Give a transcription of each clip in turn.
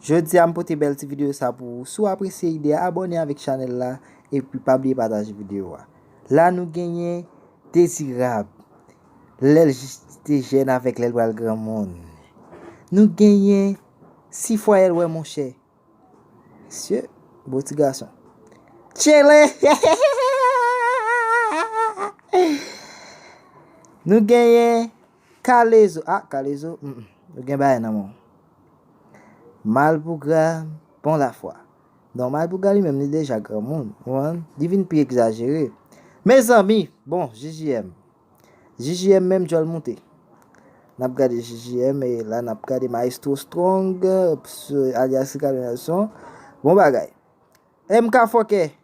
Jodi a m pote bèl ti video sa pou ou si w apresye ide a abòne avèk chanèl la epi pa bliye pataje video a la nou genyen Dezirab lè l te jèn avèk lè l pral granmoun nou genyen si fwayè l wè monchè mesye bon ti gason tchele hehehehehehehehe nou genyen Kalezo ah kalezo humm ou gen bagay nan menw malpougra bon lafwa non malpougra li menm li deja granmoun ou konprann li vin pi egzajere mezanmi bon JJM JJM menm djòl moute nap gade JJM e la nap gade maestro strong alyas Ricardo Nelson bon bagay MK fòkè.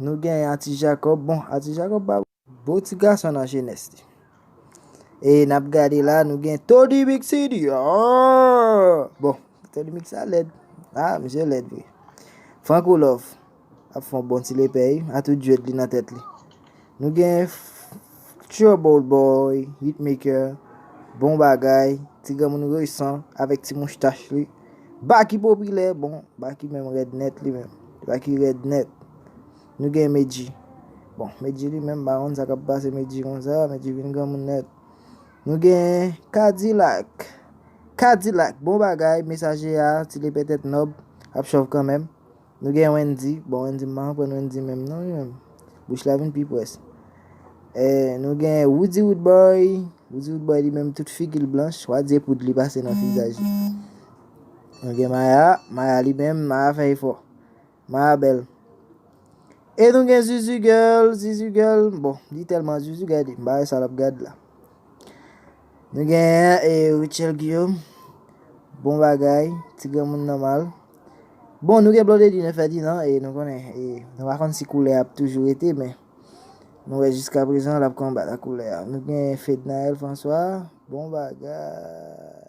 Nou gen Ati Jacob, bon Ati Jacob pa beau ti gason nan jenès li. E nap gade la nou gen Tony Mix CD aah! Bon, Tony Mix la lèd. Ah, misye lèd vre. Franco Love ap fon bon ti lepè wi, a tout djwed li nan tèt li. Nou gen Trouble Boy, Hitmaker, bon bagay, ti granmoun resan avèk ti mouchtach li. Baky popilè bon Baky menm rèd nèt li menm Baky rèd nèt nou gen Medjy bon Medjy li menm m pa konn sa kap pase Medjy konsa Medjy vin granmoun nèt nou gen Kadilak Kadilak bon bagay mesaje a ti lepè tèt nòb ap chòv kanmenm. Nou gen Wendy, bon Wendy m pa konprann Wendy menm non li menm, bouch la vin pi pwès. Nou gen Roody Roodboy, Roody Roodboy li menm tout figi l blanch, wa di e poud li pase nan vizaj li. Nou gen Maya, Maya li menm, Maya fè efò. Maya bèl. E nou gen Zuzu Girl, Zuzu Girl, bon li tèlman Zuzu gade, m pa wè sa l ap gad la. Nou genyen e Rutshelle Guillaume. Bon bagay, ti granmoun nòmal. Bon, nou gen Blondedy ne Ferdinand e nou konnen e nou pa konn si koulè ap toujou rete men nou wè jiska prezan l ap konbat ak koulè a. Nou gen Fednaelle François. Bon bagay.